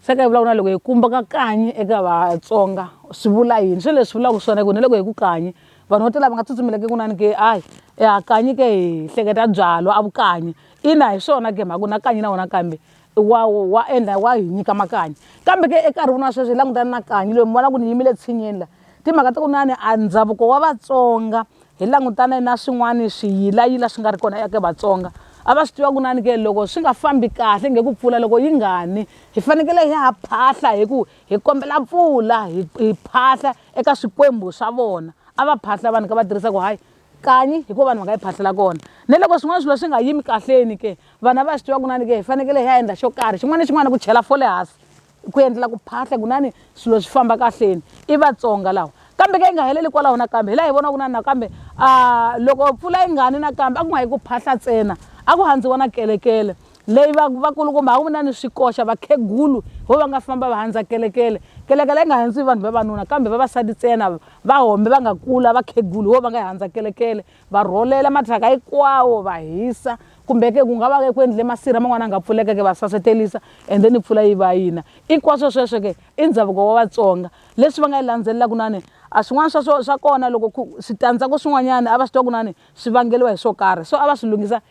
se ka hi vulavula loko hi kumba ka kanyi eka vatsonga swi vula yini swi leswi vulaka swona ku na loko hi ku kanyi vanhu vo tala va nga tsutsumeleke ku nani ke ayi ya kanyi ke hi hleketa byalwa a vukanyi ina hi swona ke mhaku na kanyi na wona kambe wa wa endla wa hi nyika makanyi kambe ke ekarhi wun'wana sweswi hi langutana na kanyi loyi mi vona ku ni yimile tshinyeni la Timhaka ta ku na ni a ndhavuko wa Vatsonga hi langutane na swin'wana swiyilayila swi nga ri kona eka Vatsonga a va swi tiva ku na ni ke loko swi nga fambi kahle nge ku pfula loko yi nga ni hi fanekele hi ha phahla hi ku hi kombela pfula hi hi phahla eka swikwembu swa vona a va phahla vanhu ka va tirhisa ku hayi kanyi hi ko vanhu va nga yi phahlela kona ni loko swin'wana swilo swi nga yimi kahleni ke vana va swi tiva ku na ni ke hi fanekele hi ya endla xo karhi xin'wana na xin'wana ku chela fole hansi ku endlela ku phahla kunani swilo swi famba kahleni i vatsonga lawa kambe ka yi nga heleli kwalaho nakambe hi laha hi vona ku nani nakambe a loko mpfula yi ngani nakambe a ku nga yi ku phahla ntsena a ku handziwa na kelekele leyi vakulukumba ha ku na ni swikoxa vakhegulu ho va nga famba va handza kelekele kelekele yi nga handziwi vanhu vavanuna kambe vavasati ntsena va hombe va nga kula vakhegulu ho va nga yi handza kelekele va rholela mathyaka hinkwawo va hisa kumbe ke ku nga va ke ku endle masirha man'wana a nga pfuleka ke va sasetelisa and then pfula yi va yina hinkwaswo sweswo ke i ndhavuko wa vatsonga leswi va nga yi landzelelaka nani a swin'wana swa swa kona loko switandzhaku swin'wanyana a va swi twa ku nani swi vangeliwa hi swo karhi so a va swi lunghisa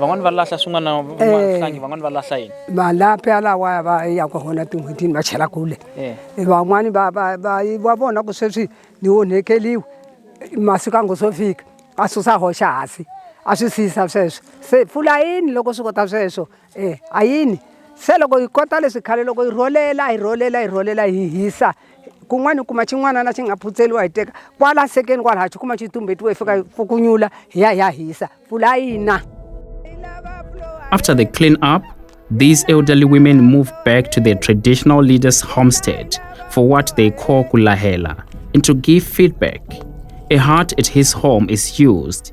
van'wani va lahla swin'wana van'wani eh. van'wani va lahla yini malapi alawaya va yaka hona tin'hwetini va chela kule eh. eh, van'wani va va va va vona ku sweswi ni onhekeliwe masiku a ngo swo fika a susa hoxa hasi a swi siyisa sweswo se pfula yini loko swi kota sweswo E a yini se loko hi kota leswi khale loko hi rholela hi rholela hi rholela hi hisa kun'wana hi kuma xin'wanana xi nga phutseliwa hi teka kwala nsekeni kwala ha xi kuma xi tumbetiwe hi fika fukunyula hi ya hi ya hisa pfula yina After the clean up, these elderly women move back to their traditional leader's homestead for what they call kulahela and to give feedback. A hut at his home is used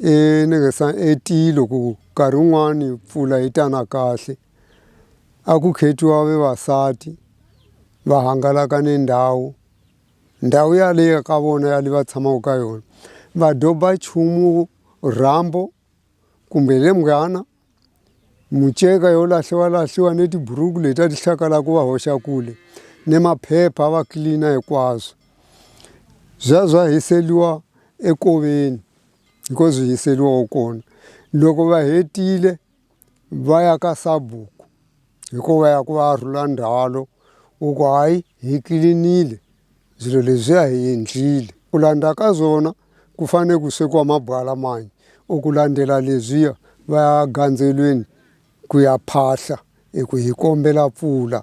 I ni nga se i tilo ku nkarhi wun'wani mpfula yi ta na kahle a ku khetiwa vavasati va hangalaka ni ndhawu ndhawu yaleyo ka vona ya le va tshamaka ka yona va doba nchumu rambo kumbe hi le munghana muceka yo lahliwalahliwa ni tiburuku leti a ti hlakala ku va hoxa kule ni maphepha a va clean hinkwaswo byi ya byi ya hiseriwa enkoveni hi ko byi hiseriwaku kona loko va hetile va ya ka Sabok. Hikuva ya ku va a rhula ndzhwalo u ku hayi hi clean-ile swilo leswiya hi endlile ku landza ka swona ku fane ku swekiwa mabyala manyi or ku landzela leswiya va ya gandzelweni ku ya phahla hi ku hi kombela mpfula.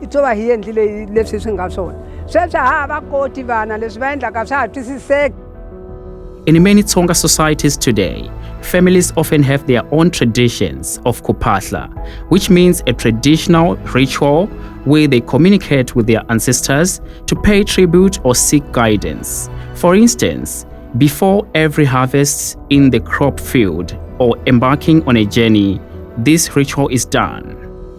i to va hi endlile leswi swi nga swona sweswi ha ha va koti vana leswi va endlaka swa ha twisiseki In many Tsonga societies today, families often have their own traditions of kupahla, which means a traditional ritual where they communicate with their ancestors to pay tribute or seek guidance. For instance, before every harvest in the crop field or embarking on a journey, this ritual is done.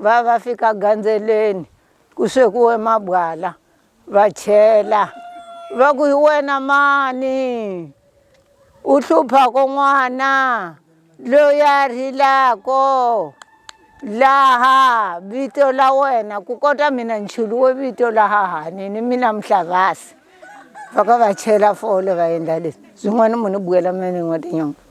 Va va fika gandzeleni ku swekiwe mabyalwa va chela va ku hi wena mani u hluphaka n'wana loyi a rilaka laha vito la wena ku kota mina ni cheliwe vito laha hanini mina Mhlabasi va ka va chela fole va endla leswi byin'wana mo ni bukela mina ni n'wa tinyoka.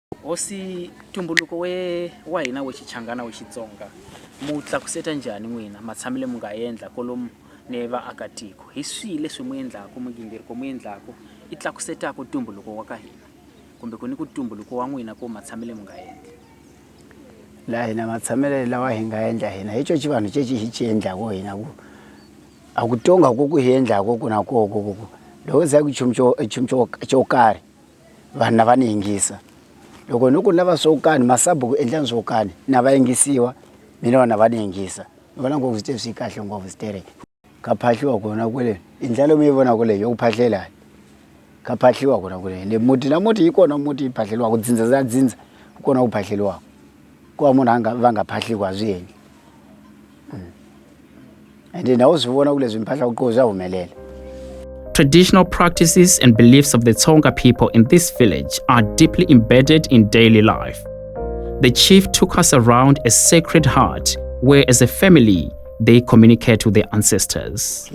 Hosi, ntumbuluko we wa hina we Xichangana we Xitsonga mu tlakuseta njhani n'wina matshamile mu nga endla kolomu ni vaakatiko? Hi swihi leswi mu endlaku migingiriko mu endlaku i tlakusetaku ntumbuluko wa ka hina kumbe ku ni ku ntumbuluko wa n'wina ku matshamile mu nga endli? La hina matshamile lawa hi nga endla hina hi coci vanhu ceci hi ci endlaku hina ku a ku tonga ku ku hi endlaku ku na koho ku ku ku loko se ku nchumu co nchumu co co karhi. vanhu lava ni yingisa loko ni ku ni lava swo kani masabuku endlani swo kani na va yingisiwa mina vanhu lava ni yingisa ni vona ngopfu swi swi kahle ngopfu sterek ka phahliwa kona kwele i ndlela leyi mi yi vonaka leyi yo ku phahlelani ka phahliwa kona kwele ende muti na muti yi kona muti yi phahleliwaku dzindza za dzindza ku kona ku phahleliwaku. ku va munhu a nga va nga phahli ku a swi endli hmm. and na u swi vona ku leswi mphahlaku ko swa humelela Traditional practices and beliefs of the Tsonga people in this village are deeply embedded in daily life. The chief took us around a sacred heart where, as a family, they communicate with their ancestors.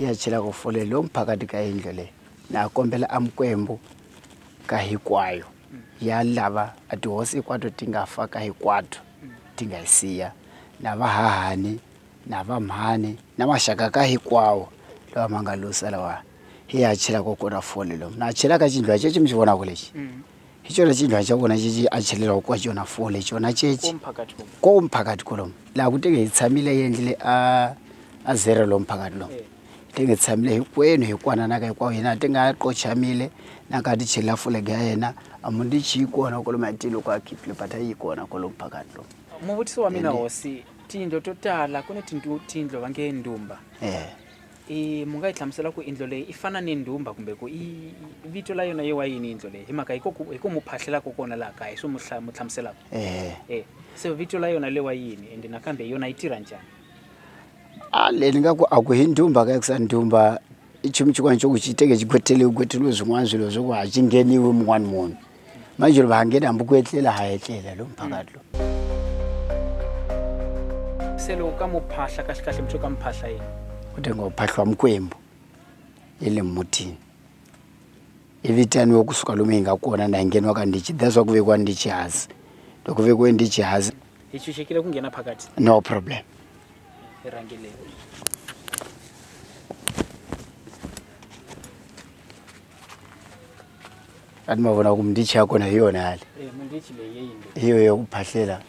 ya lava a tihosi hinkwato ti nga fa ka hinkwato ti nga yi siya na vahahani na vamhani na maxaka ka hinkwawo lawa ma nga lusa lawa hi ya chela ko kona fole lomu na chela ka chindlwa chechi mi xi vonaka lexi hi chona chindlwa xa vona chechi a chelelaku ka chona fole chona chechi ko mphakathi kolomu laha ku tenge hi tshamile yi endlile a a zero lomu mphakathi lomu ti nge tshamile hinkwenu hi ku anana ka hinkwavo hina ti nga qochamile na ka ti chela fulege ya yena a muti chi yi kona kwalo matilo ku a khipile but a yi kona kwalo phakathi lo muvutiso wa mina hosi tiyindlo to tala ku ni tiyindlo va nge ndumba eh i mu nga yi hlamusela ku indlo leyi i fana ni ndhumba kumbe ku i vito la yona yi wa yini indlo leyi hi mhaka hi koku hi ku mu phahlelaka kona laha kaya hi swi mu hla- mu hlamuselaka eh eh se vito la yona le wa yini ende nakambe yona yi tirha njhani A leyi ni nga ku a ku hundzi hi mhaka ya ku sa ndzumba i nchumu xin'wana xa ku xi teke xi gweteliwe gweteliwe swin'wana swilo swa ku a xi ngheniwi mun'wani munhu manjhe va ha nghena hambi ku etlela ha etlela lomu phakathi lomu se loko ka mu phahla kahlekahle mi ka mi phahla yini u te ngo phahliwa mikwembu ya le mutini Hi vitaniwe ku suka lomu hi nga kona na hi ngeniwa ka ndichi that's why ku vekiwa ndichi hansi loko ku vekiwe ndichi hansi hi tshunxekile ku nghena phakathi no problem hi rhangeleni a ni ma vona ku mindichi ya kona hi yona yale eh, mindichi leyi yeyini hi yo ya ku phahlela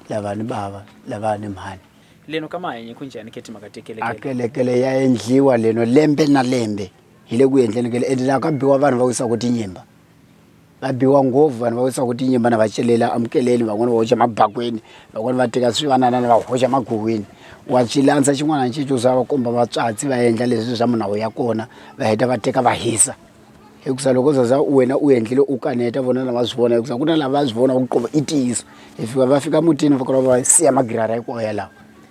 lava ni bava lava ni mhani leno ka mahanyi ku njhani khe timhaka tekelekele akelekele ya endliwa leno lembe na lembe hi le ku endleni ka le ende la ka biwa vanhu va wisiwaku tinyimba va biwa ngopfu vanhu va wisiwaku tinyimba na va celela amukeleni van'wani va hoxa mabakweni van'wani va teka swivananana va hoxa maghuwini wa swi landza xin'wana ni xin'wana swa va komba vatswatsi va endla leswi swa munhu a wu ya kona va heta va teka va hisa hikusa loko u za za wena u endlile u kaneta vona la va swi vona hikusa ku na la va swi vona ku i ntiyiso hi fika va fika mutini va kala va siya magirara hinkwawo yalawo.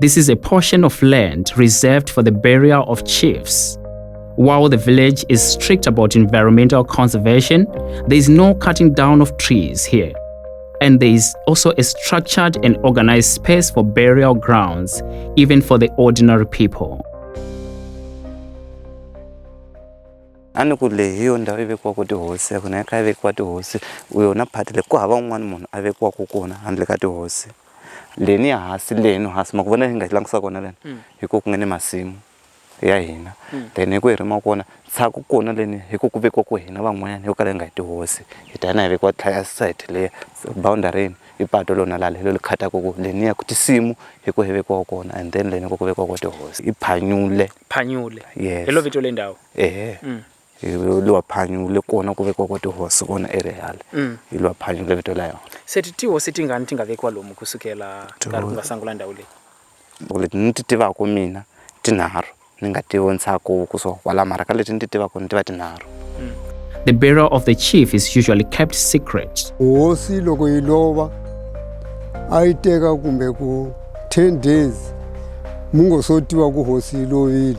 This is a portion of land reserved for the burial of chiefs. While the village is strict about environmental conservation, there is no cutting down of trees here. And there is also a structured and organized space for burial grounds, even for the ordinary people. a ni ku leyi hi yo ndhawu yi vekiwaka tihosi ya kona ya kha yi vekiwa tihosi u yona phati leyi ku hava un'wana munhu a vekiwaka kona handle ka tihosi leni hansi leni hansi ma ku vona hi nga langutisa kona leni mm. hi ku ku nga ni masimu ya hina mm. then hi ku hi rima kona tshaku kona leni hi ku ku vekiwa ku hina van'wanyana yo kala hi nga hi tihosi hi ta hina hi vekiwa tlhaya site leya boundarini i pato lona lale lo li khataku ku leni ya ku tisimu hi ku hi vekiwa kona and then leni ku ku vekiwa ko tihosi i phanyule phanyule yes. hi lo vito le ndawu ehe mm. hi lwa phanyu le kona ku vekiwa kwa tihosi kona erehale mm. hi lwa phanyu le vito la yona se ti tihosi tingani ti nga vekiwa lomu ku sukela nkarhi ku nga sangula ndhawu leyi leti ni ti tivaka mina tinharhu ni nga ti vontshaku ku so kwala mara ka leti ni ti tivaka ni tiva tinharhu mm. the burial of the chief is usually kept secret hosi loko yi lova a yi teka kumbe ku 10 days mu ngo so tiva ku hosi yi lovile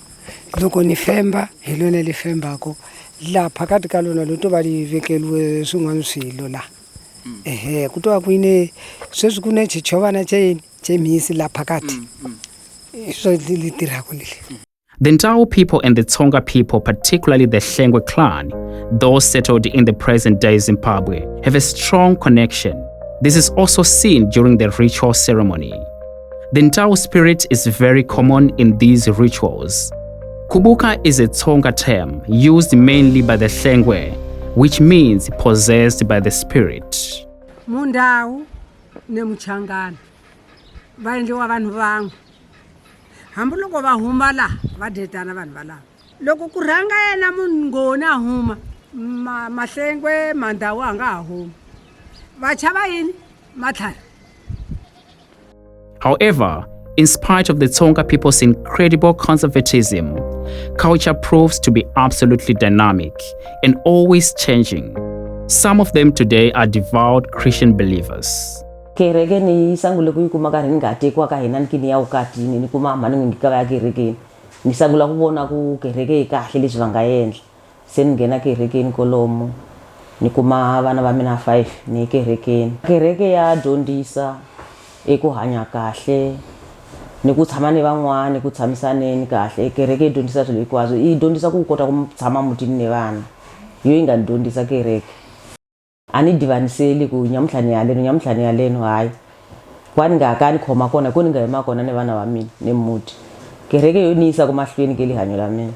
loko ni femba hi lona li fembako la phakati ka lona lo to va li vekeliwe swin'wana swilo la mm. ehe ku to va ku yine sweswi ku ne chichovana cheyini chemhisi la phakati mm, mm. hi swo li tirhako leli The Ndau people and the Tsonga people, particularly the Hlengwe clan, those settled in the present day Zimbabwe, have a strong connection. This is also seen during the ritual ceremony. The Ntao spirit is very common in these rituals. Kubuka is a Tsonga term used mainly by the Hlengwe, which means possessed by the spirit. Mundau nemuchangana vaendliwa vanhu van'we hambiloko va huma laha va dyetana vanhu valava loko ku rhanga yena munhu ngoni a huma mahlengwe mandhawu a nga ha humi vachava yini matlhari However, in spite of the Tsonga people's incredible conservatism, culture proves to be absolutely dynamic and always changing. Some of them today are devout Christian believers. kereke ni sangule ku yi kuma ka ri ni nga tekiwa ka hina niki ni ya vukatini ni kuma mhani n'wi ngikava ya kerekeni ni sangula ku vona ku kereke yi kahle leswi va nga endla Se ni nghena kerekeni kolomu ni kuma vana va mina five ni ye kerekeni. Kereke ya dyondzisa hi ku hanya kahle ni ku tshama ni van'wani ku tshamisaneni kahle kereke yi dyondzisa swilo hinkwaswo yi dyondzisa ku kota ku tshama mutini ni vana hi yo yi nga ni dyondzisa kereke. a ni divaniseli ku nyamutlha ni haleno nyamutlha ni haleno hayi wa ni nga ka ni khoma kona ku ni nga yima kona ni vana va mina ni muti kereke yo ni yisa ku mahlweni ke lihanyo la mina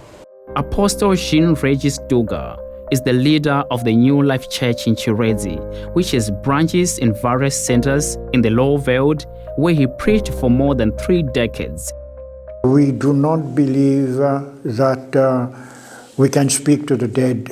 Apostle Jean Regis Duga is the leader of the New Life Church in Chiredzi, which has branches in various centers in the Lower Veld, where he preached for more than three decades. We do not believe uh, that uh, we can speak to the dead.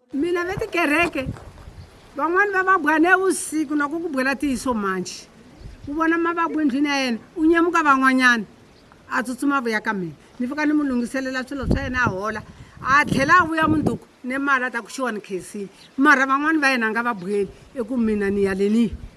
mina ve tikereke van'wani va va bwa ne vusiku na ku ku bwela tiyiso manji u vona mavabwu endlwini ya yena u nyemuka van'wanyana a tsutsuma vuya ka mina ni fika ni mu lunghiselela swilo swa yena a hola a tlhela a vuya munduku ni mali a ta ku xiwani khesini mara van'wani va yena a nga va bweli eku mina ni yaleniyi